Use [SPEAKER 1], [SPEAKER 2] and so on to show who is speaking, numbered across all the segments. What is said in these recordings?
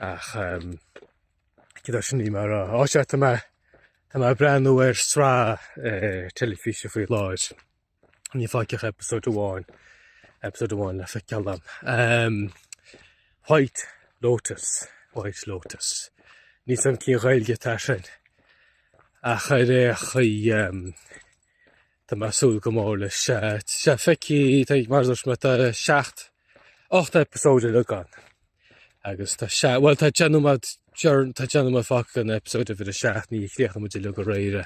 [SPEAKER 1] Ach idir sin bhí mé ar fheabhas. Sea, tá mé tá mé ag breathnú ar sraith teilifíse faoi láthair. Níl fágtha ach episode amháin episode amháin le feiceáil agam. White Lotus White Lotus. Níl a fhios agam cén Ghaeilge atá air sin ach ar aon chaoi Tá mé ag súil go mór leis a fheiceáil, tá mar a dúirt mé tá seacht, ocht eipeasóid uilig ann agus tá seacht, bhuel tá deich nóiméad, tá deich nóiméad fágtha in eipeasóid uimhir a seacht, níor chríochnaigh muid é uilig aréir,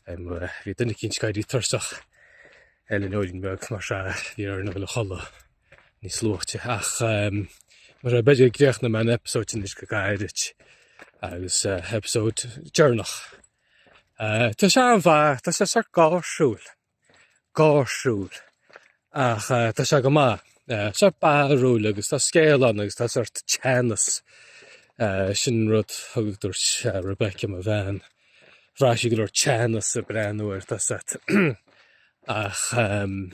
[SPEAKER 1] bhí duine eicínt ag éirí tuirseach ar an fheoilín bheag mar seo bhí orainn a dhul a chodladh níos luaite ach mar seo b'fhéidir go gcríochnóidh mé an eipeasóid anois go gairid agus eipeasóid deireanach. Tá sé an-mhaith, tá sé sórt gáirsiúil, gáirsiúil ach tá sé go maith. Sórt barrúil agus tá scéal ann agus tá sórt teannas sin rud thug a dúirt Rebecca mo bhean. Bhraith sí go leor teannas ag breathnú air tá a fhios agat. Ach ehm,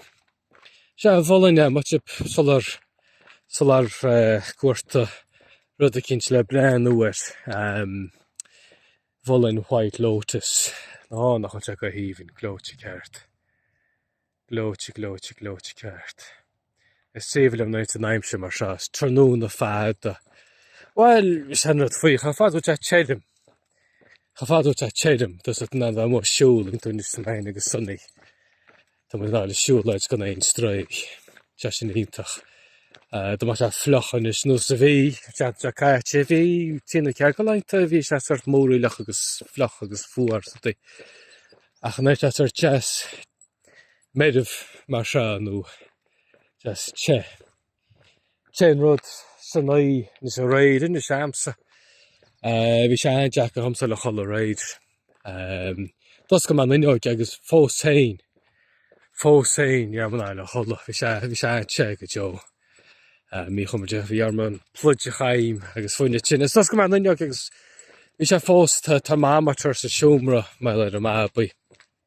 [SPEAKER 1] sea mholfainn é má tá sibh ag soláthar soláthar ag cuartú rud eicínt le breathnú air. Mholfainn White Lotus. Ó, nach bhfuil sé go haoibhinn, gleoite ceart. Gleoite, gleoite, gleoite ceart. Is aoibhinn liom nuair atá an aimsir mar seo, is tráthnóna fada. Bhuel, sé an rud faoi, chomh fada is atá sé tirim. Chomh fada is atá sé tirim, tá a fhios agat in ann a dhul amach ag siúl in tú níos maine agus sunny. Tá mé in ann a dhul ag siúlóid gan aon stró. Sé sin iontach. Eh, Dá mbeadh sé fliuch anois nós a bhí an tseachtain seo caite, bhí trí nó ceathair de laethanta, bhí sé sórt múraíleach agus fliuch agus fuar tá a fhios agat. Ach inné bhí sé sórt deas meirbh mar seo nó deas te. Sé an rud san oíche nós aréir, níl a fhios agamsa. Bhí sé an-deacair dhomsa a dhul a chodladh aréir. D'oscail mé an fhuinneoig agus fós féin, fós féin ní raibh mé in ann a dhul a chodladh. Bhí sé, bhí sé an-te go deo. Míchompordach, bhí orm an pluid a chaitheamh agus fuineadh tinn. Is d'oscail mé an fhuinneoig agus bhí sé fós, tá tá thermometer sa seomra mar gheall ar an mbabaí.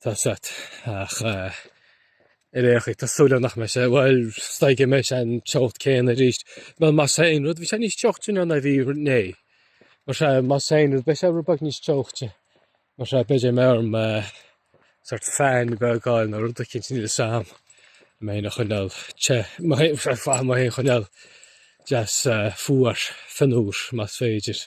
[SPEAKER 1] Tá a fhios agat ach ar aon chaoi tá súil agam nach mbeidh sé, bhuel is dóigh go mbeidh sé an teocht céanna arís. Bhuel más é aon rud bhí sé níos teochta ná ná bhí inné. Mar seo más é aon rud beidh sé rud beag níos teochta. Mar seo b'fhéidir go mbeidh orm sórt fan beag a fháil nó rud eicínt níl a fhios agam mé féin a choinneáil te, mé féin ar fad mé féin a choinneáil deas fuar, fionnuar más féidir.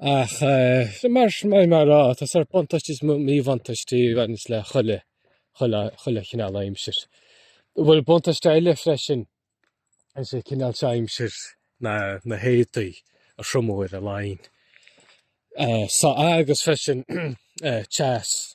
[SPEAKER 1] Ach eh, mar sin mar mar rá, tá's a'd, buntáistí is mó- míbhuntáistí a bhaineas le chuile chuile chuile chineál aimsir. Bhuel, buntáiste eile freisin is é cineál seo aimsir na na héadaí a thriomú ar an line. Eh, so, agus freisin eh, teas.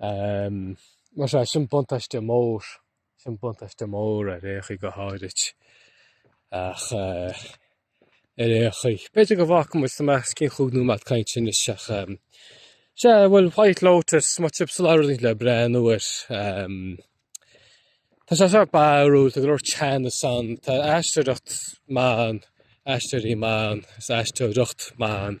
[SPEAKER 1] Mar sea, sin buntáiste mór, sin buntáiste mór ar aon chaoi go háirid ach ar aon chaoi. B'fhéidir go bhfágfaidh muid sin, mé os cionn chúig nóiméad cainte anois ach sea, bhuel White Lotus, má tá sibh ag lorg rud eicínt le breathnú air. Tá sé sách barrúil, tá go leor teannas ann, tá aisteoireacht mhaith ann, aisteoirí maithe ann, is aisteoireacht mhaith ann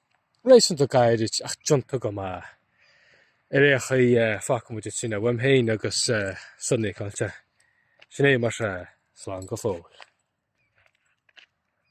[SPEAKER 1] réasúnta gairid ach déanta go maith. Ar aon chaoi, fágfaidh muid ansin é, uaim féin agus San Niocláis, sin é mar sea, slán go fóill.